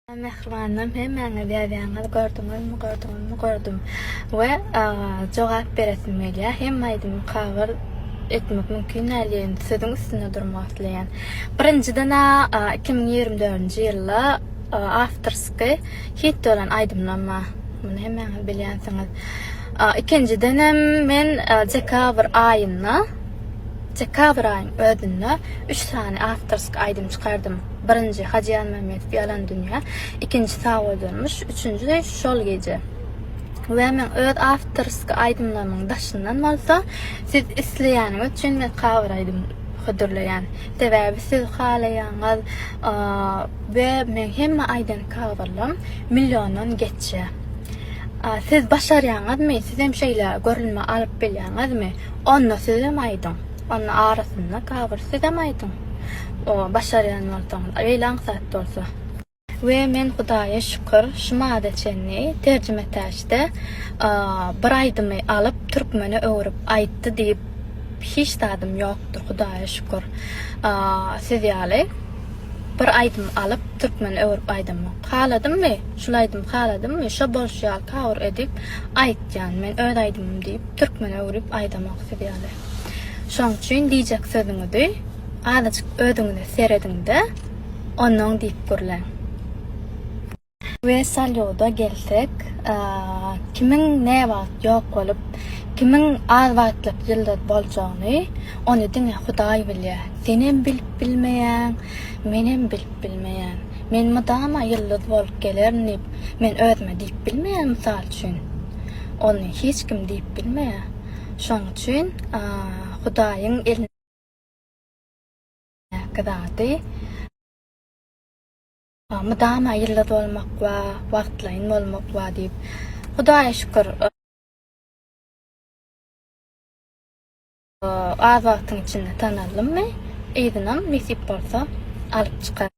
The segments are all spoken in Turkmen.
Salam mähribanlarym hemmäňiz ýazýaňyz gördüňizmi gördüňizmi gördüm we jogap beresim gelýär hemme aýdymy cover etmek mümkin däl diýen sözüň üstünde durmak isleýän birinjiden a iki müň ýigrimi dördünji ýylda awtorsky hit bolan aýdymlarym bar muny hemmäňiz bilýänsiňiz ikinjidenem men dekabr aýynda dekabr aýyň özünde üç sany awtorsky aýdym çykardym. Birinji, Hajy Ýazmämmedow ýalan dünýä, ikinji, Sag bol durmuş, üçünji, Şol gije. We meň öz awtorski aýdymlarymyň daşyndan bolsa, siz isleýäniňiz üçin men kawer aýdym hödürleýän. Sebäbi siz halaýaňyz we meň hemme aýdan kawerlerim milliondan geçýär. Siz başarýaňyzmy? Sizem şeýle görülme alyp bilýäňizmi? Onda sizem aýdyň. Onda arasynda kawer sizem aýdyň. başarýan bolsaňyz, beýle aňsat bolsa. We men Hudaýa şükür, şu mada çenli terjimetäçde bir aýdymy alyp türkmene öwrüp aýtdy diýip hiç zadym ýokdur, Hudaýa şükür. Siz ýaly bir aýdym alyp türkmene öwrüp aýdamok. Haladymmy, şul aýdymy haladymmy, şo bolşy ýaly kawr edip aýtýan. Men öz aýdymym diýip türkmene öwrüp aýdamok siz ýaly. Şoň üçin diýjek sözüňizi azajyk özüňize serediňde onoň diýip gürläň. We salýuda gelsek, kimiň näwagt ýok bolup, kimiň az wagtlyk ýyldyz boljagyny ony diňe Hudaý bilýär. Senem bilip bilmeýäň, menem bilip bilmeýän. Men mydama ýyldyz bolup gelerin diýip, men özüme diýip bilmeýän mysal üçin. Ony hiç kim diýip bilmeýär. Şoň üçin Hudaýyň elindäki zady mydama ýyldyz bolmak we wagtlaýyn bolmak we diýip Hudaýa şükür az wagtyň içinde tanaldym we yzynam nesip bolsa alyp çykaryn.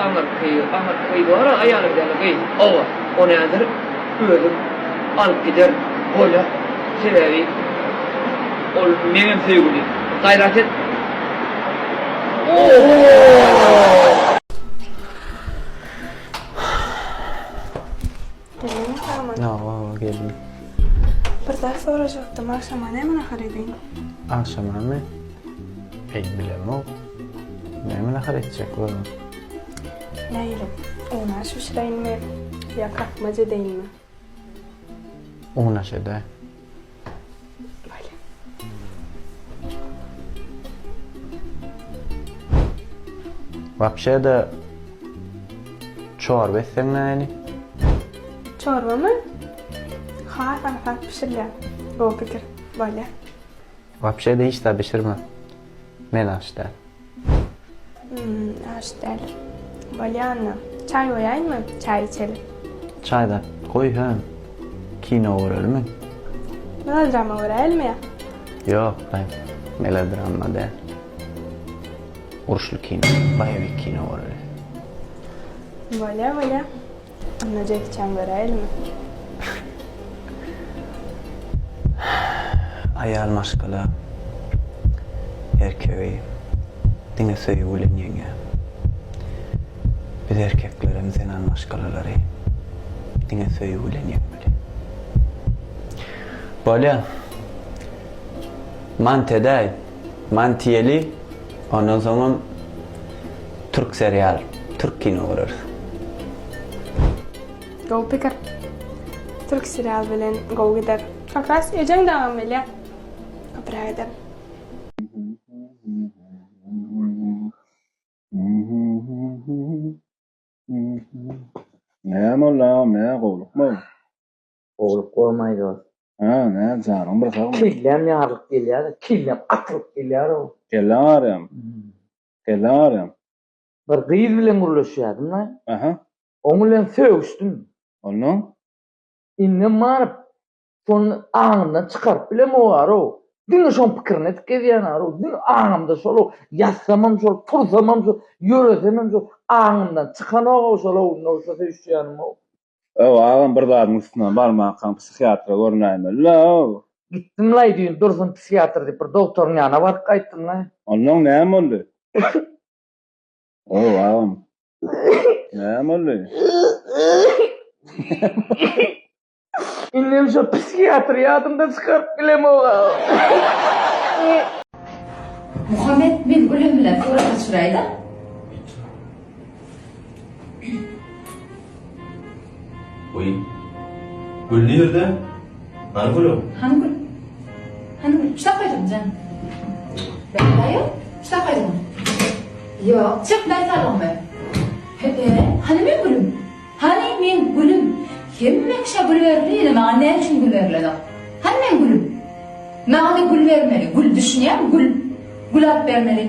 Aňyrky, aňyrky bar-a aýalyň däli gyz. Hawa, ony häzir özüm alyp giderin. Bolýa. Sebäbi ol meňem söýgüli. Gaýrat et. Oho! Gelin sağman. No, o, gelin. Bir zat sorajaktym, akşama näme nahar ediň? Akşama mi? Ey, bilemok. Näme nahar etjek bolam? Näýilim, unaş bişireýinmi, ýa kakmaç edeýinmi? Unaş ede. Wapşe de çorba etseň näli? Çorbamy? Has aňsat bişirýär. Gowy pikir. Bolýar. Wapşe de hiç zat bişirme. Men aç däl. Aç däl. Bolýanna. Çaý goýaýynmy? Çaý içeli. Çaý zat goý, hä. Kino görelimi? Melodrama göräýelmi? Ýok, baý. Melodrama däl. Uruşly kino, boýewik kino göreli. Bolýar, bolýar. Onda Jeki Çan göräýelimi? Aýal maşgala erkegi diňe söýgi bilen ýeňýär. Biz erkeklerem zenan maşgalalary diňe söýgi bilen ýeňmeli. Bolýa. Mant edäý. Mant iýeli. Ondan soňam türk serial, türk kino göreris. Gowy pikir. Türk serial bilen gowy gider. Kakras ejeň dagam welä köpüräk eder. Näme olam nä gowlukmy. Gowulyk bolmay dost. Hä nädip janyň bir sagmy. Kelläm ýarylyp gelýärde kellem atylyp gelýärow. Kelläň arýamy. Kelläň arýamy. Bir gyz bilen gürleşýädim da. Aha. Oň bilen sögüşdim. Onnoň. Indem baryp şony aňymdan çykaryp bilemogarow. Diňe şoň pikirini edip gezýänarow. Diňe aňymda şolow. Ýatsamam şol, tursamam şol, ýöresemem şol. Aňymdan çykanogow şolow, indi şo söýüşýänimow. Öw agam bir zadyň üstünden barmankaň psihiatra görünäýmeli-la-ow. Gitdim-laý düýn Dursun psihiatr diýip bir dogtoryň ýanyna baryp gaýtdym-laý. Onnoň näme boldy? Öw agam. Näme boldy? Indem şo psihiatry ýadymdan çykaryp bilemok-a. Muhammet men Gülem bilen surata çyraýda. Oý. Gül nirde? Hany gül? Hany gül? Hany gül? Şa koydum can. Ben bayo. Şa koydum. Yo, çık ben salon be. Hebe, hani men gülüm? Hani men gülüm? Hemme kişa gül verdi, yine bana ne için gül verildi? Hani men gülüm? Bana gül vermeli, gül düşünýän, gül. Gül alyp bermeli.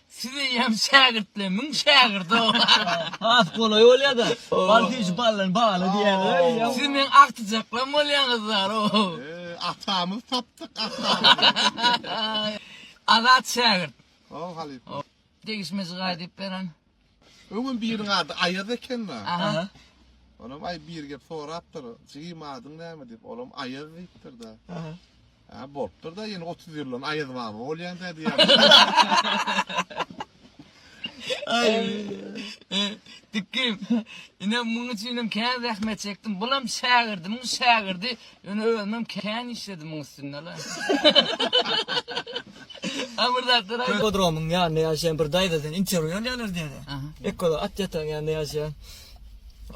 Sizeýem şägirtler müň şägirdo. Has golaý bolýada. Bal süýji baldan baly diýýäler. Siz meň agtyjaklarym bolýaňyzlar. Atamyz tapdyk atamyz. Azat şägirt. Halypa. Degişmejik aýdyp beren. Öňem biriň ady Aýaz ekeni. Aha. Onam aý bir gep sorapdyr. Jigim adyň näme diýip, olam Aýaz diýipdir-de. Aha. Ha, bolupdyr da, ýene 30 ýyldan Aýaz baba bolýan-da diýýär. Aý. Dikim. Ine muň üçin hem kän zähmet çekdim. Bulam şägirdimiň şägirdi. Ýöne özümem kän işledim muň üstünde-le. A bir zatlar aýt. Ippodromyň ýanynda ýaşaýan bir daýzadan interwýu alýarlar diýdi. Ekolo at ýatan ýanynda ýaşaýan.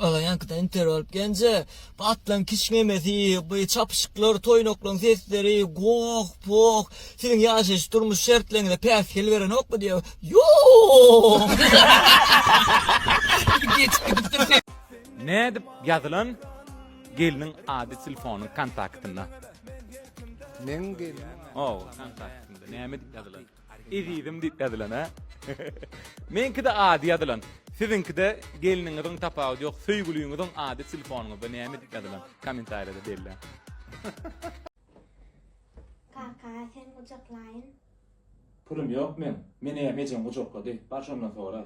Olaň ýankydan interwýu alyp gelince, bu atlaryň kiçňemesi, bu çapyşyklar, toýnaklaryň sesleri, goh-poh, siziň ýaşaýyş, durmuş şertleriňize päsgel berenokmy diýýär. Ýok! Geçip gidipdir. Nädip ýazylan? Gelniň ady telefonyň kontaktynda. Meň gelnim. O, kontaktynda. Näme diýip ýazylan? Ezizim diýip ýazylan, ha? Meňkide ady ýazylan. Siziňkide gelniňiziň tapawudy ýok. Söýgüliňiziň ady telefonyňyzda näme diýip ýazylan? Kommentariýada belläň. Kaka, seni gujaklaýyn. Pulum ýok meň. Meni hem ejeň gujaklady. Bar şondan soraý.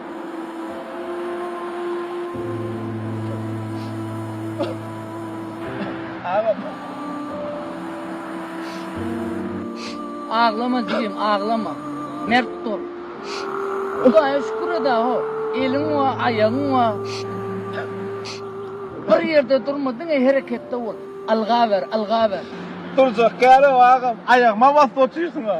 Aglama jigim, aglama. Mert bol. Hudaýa şükür eda ho. Eliň bar, aýagyň bar. Bir ýerde durma, diňe hereketde bol. Alga ber, alga ber. Durjak ýeri ýok agam. Aýagyma basyp otyrsyň-a.